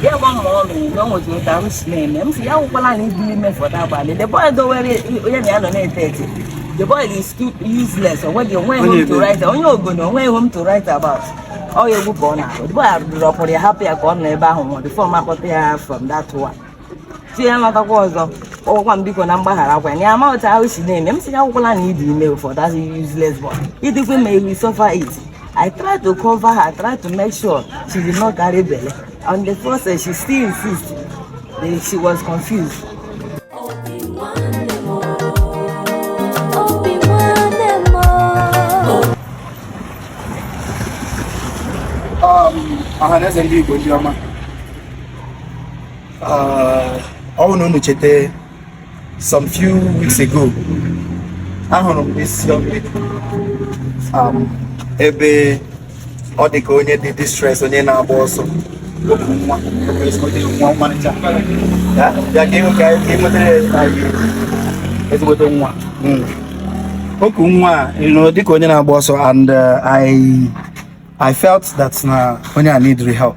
ya gba mma ọ na-eme nweta ụta m si na-eme m si ya akwụkwala na ịdị ime for that abalị the boy dowere onye na ya nọ na-ete ete the boy is too useless onweghị onweghị home to write onye Ogoni onweghị home to write about ọ ya egwu ka ọ na-arụ the boy arụdụrụ ọkpụrụ ya hapụ ya ka ọ nọ ebe ahụ nwụọ before m akpọta ya from that one si ya natakwa ọzọ ọ gwakwa m biko na m gbagharakwa ya ama otu ahụ si na-eme m si ya akwụkwala na ịdị ime for that useless boy ị dịkwa ime you will suffer it I try to cover her try to make sure she did not carry belle on the process she still insist that she was confused um, ọha na eze ndị Igbo ndị ọma ah, ọ bụrụ na unu cheta some few weeks ago ahụrụ m this young lady um, ebe ọ dị ka onye dị distress onye na-agba ọsọ o ku nwa ezigbote nwa ọmarịcha ya bịa ka ịnwe ka ịnwetara ezigbote nwa hmm. o ku nwa adị ka onye na-agba ọsọ and uh, I I felt that na onye a need help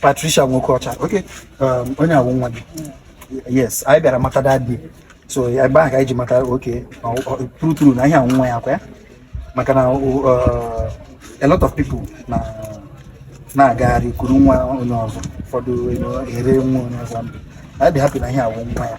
Patricia Nwokocha okay um, onye a wụ nwa gị yes anyị bịara mata that day so ebe ahụ ka anyị ji mata okay true true na ihe a wụ nwa ya kwa ya maka na uh, a lot of people na na-agagharị kuru nwa onye ọzọ ụfọdụ ere nwa onye ọzọ and anyị dị happy na ihe a wụ nwa ya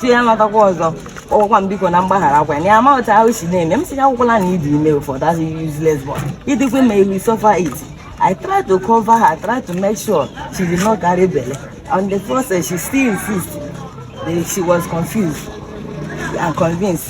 si ya lọtakwa ọzọ ọ gwakwa m biko na m gbagharakwa na ya ma otu ahụ si na-eme m si ya akwụkwala na ịdị ime for that useless boy ị dịkwa ime you will suffer it I try to cover her try to make sure she did not carry belle on the process she still insist that she was confused and convinced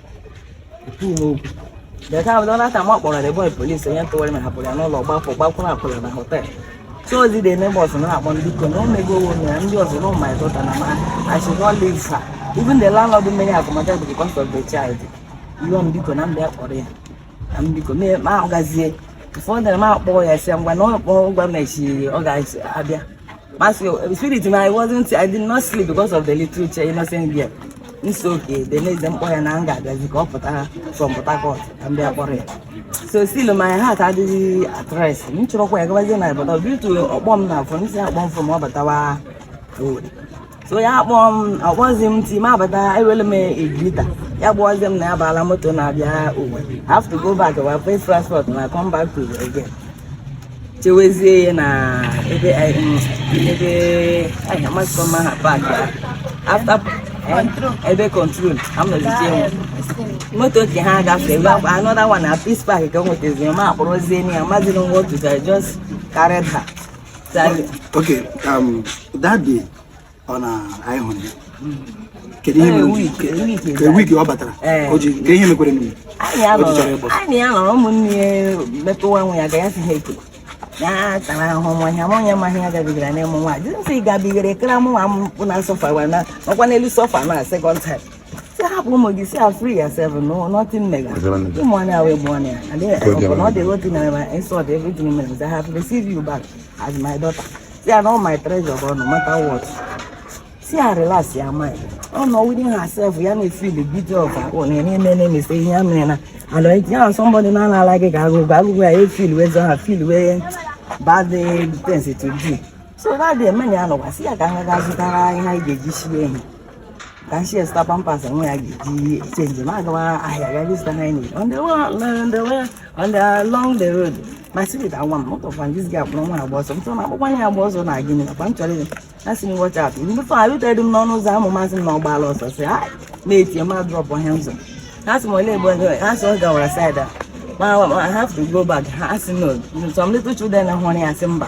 Deka abụla na aka ma kpọrọ Ebonyi polisi onye ntụwarị ma hapụrụ ya n'ụlọ gbapụ gbakwụrụ akwụrụ na họtel Sozi dị n'ebe ọzọ na-akpọ ndị iko na omego owo na ndị ọzọ na ụmụ ịdọta na ma I should not leave her even the landlord mmeri akụmaja bụ because of the child iwe m biko na ndị akpọrọ ya na m biko ma ahụgazie ụfọdụ na m akpọ ya si ngwa na ọ gwa m na echi ọ ga-abịa Mas eu, o spirit, mas I wasn't, I did not sleep because of the little chair, innocent girl. It's okay. The next them boy and anger that he got from Port Harcourt and they are worried. So still my heart had the at rest. M chọrọ kwa ya gabazie na but due to ọkpọ m na afọ, m si akpọ m from ọbatawa road. so ya kpọọ m ọ kpọzi m ti m abata ewele m egrita ya gwazie m na ya baala moto na-abịa we have to go back we pay transport na come back to again chewezie ya na ebe eh, mm, ebe eh, amasịkọ ma ha park after eh, ebe control amụzizie m moto ka ha gafee gwa another one na Peace Park ka o nwetazi m akpọrọzie ya mazi na nwa otu just carried her Okay, um, that day ọ na anyị hụrụ ya kedu ihe mere week ọ batara o ji nke ihe mekwere n'iwu anyị ya nọrọ ụmụnne ya metụwa nwe ya ga ya si ha ekele ya tara ahụhụ nwa ya ma onye maghị ya gabigara n'ịmụ nwa dịzi nsị gabigara ekere amụ nwa m pụ na suffer ọkwa n'elu suffer na second time si hapụ ụmụ gị si ya free yourself no nothing mega ụmụ anya wee bụ anya ọbụna ọ dị otu na ma insult everything mere I have received you back as my daughter si ya na all my treasure bụ no matter what si ya relax ya mind ọ nọ within herself ya na feel the beauty of her own eme eme na emese ihe ya mere na and ọ ya na somebody na ana ala gị ka agụgụ agụgụ ya e-feel wee zọ ha feel very bad things to do so that the men ya nọkwa si ya ka ha ga zụtara ihe anyị ga-eji sie ihe kashiyesta pampers amwe ga-eji change magawa ahya gari stani on the wall on the way on the along the road my spirit i want motor fan this guy from one boss so na akwụkwọ ya agba ọsọ na gịnị na kwan chọrọ na si watch out mgbe fa alu tedum n'ọnụ ụzọ amụ masị m na ọ gbala ọsọ si ha na-etie ma drop ha ụzọ ha si m ole egbe ego ha si ọ gawara side a ma i have to go back ha si no some little children hụrụ ya si mba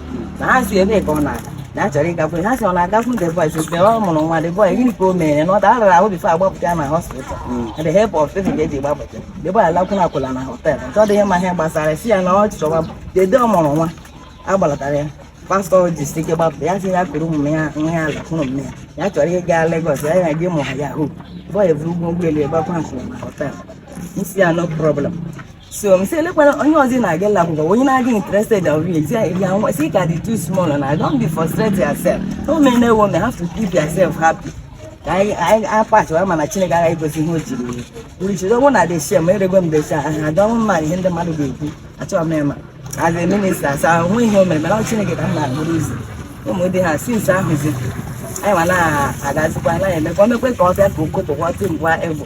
na ha si ebe ka ọ na-aga na achọrọ ịgakwu ha si ọ na-agakwu the boy since ọ mụrụ nwa the boy gịnị ka o mere na ọ dara ahụ before agbapụta ya na hospital na the help of people ga-eji gbapụta the boy alakwụna akwụla na hotel nke ọ dịghị mma ihe gbasara si ya na ọ chọwa dede ọ mụrụ nwa agbalatara ya pastor ji si ike gbapụta ya si ya kụrụ ụmụ ya nwa ya ala kụrụ ụmụ ya ya chọrọ ịga Lagos ya ya gị mụ ha ya hụ boy buru ụgwọ ụgbọelu ya gbakwa nkwụrụ na hotel si ya no problem so m sị elekwana onye ọzọ na-aga ụlọ akwụkwọ onye na-aga interested of it ya ya nwa sị ka dị too small na I don't be frustrate yourself no men no women have to keep yourself happy ka anyị anyị apachịwa mana Chineke agaghị egosi ihe o jiri ya uru jiri ọnwụ na deshe ma erego m deshe ha adọnwụ mma ihe ndị mmadụ ga-ekwu achọghị m ịma as a minister asa ahụ ihe o mere mana ọ Chineke ka m na-agbụrụ ụzọ ụmụ di ha since ahụzi anyị ma na-agazikwa na-emekwa omekwe ka ọ bịa ka okopụkwa timgwa egbo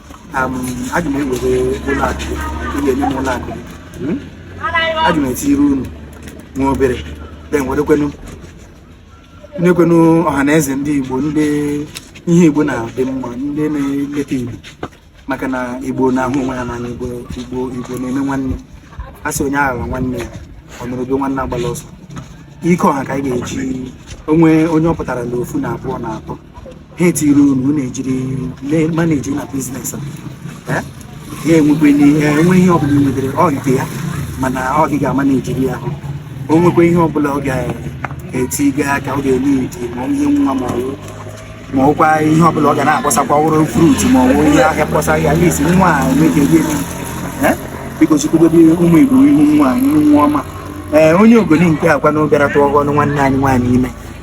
aga m ewere ụlọ akụ ihe nye m ụlọ akụ hmm? aga m etinyere unu nwa obere then werekwenu nyekwenu ọha na eze ndị igbo ndị ihe igbo na-adị mma ndị na-eleta igbo maka na igbo na-ahụ onwe ha n'anya igbo igbo igbo na-eme nwanne a sị onye aghala nwanne ya ọ nụrụ ube nwanne agbala ọsọ ike ọha ka anyị ga-eji onwe onye ọ pụtara na ofu na abụọ na atọ ha etiri unu unu ejiri manage na business ha enwekwe enwe ihe ọbụla ị nwetara ọ nke ya mana ọ gị ga-amanejiri ya o nwekwa ihe ọbụla ọ ga-etinye aka ọ ga-eme edi ma ihe nwa ma ọwụ ma ọkwa ihe ọbụla ọ ga na-akpọsakwa wụrụ fruit ma ọwụ ihe ahịa kpọsa ya please nwa a nweke gị biko chukwu dobe ụmụ igbo ihu nwa ihu nwa ọma ee onye ogoni nke akwa na ọ bịara tụọ ọgọnụ nwanne anyị nwaanyị ime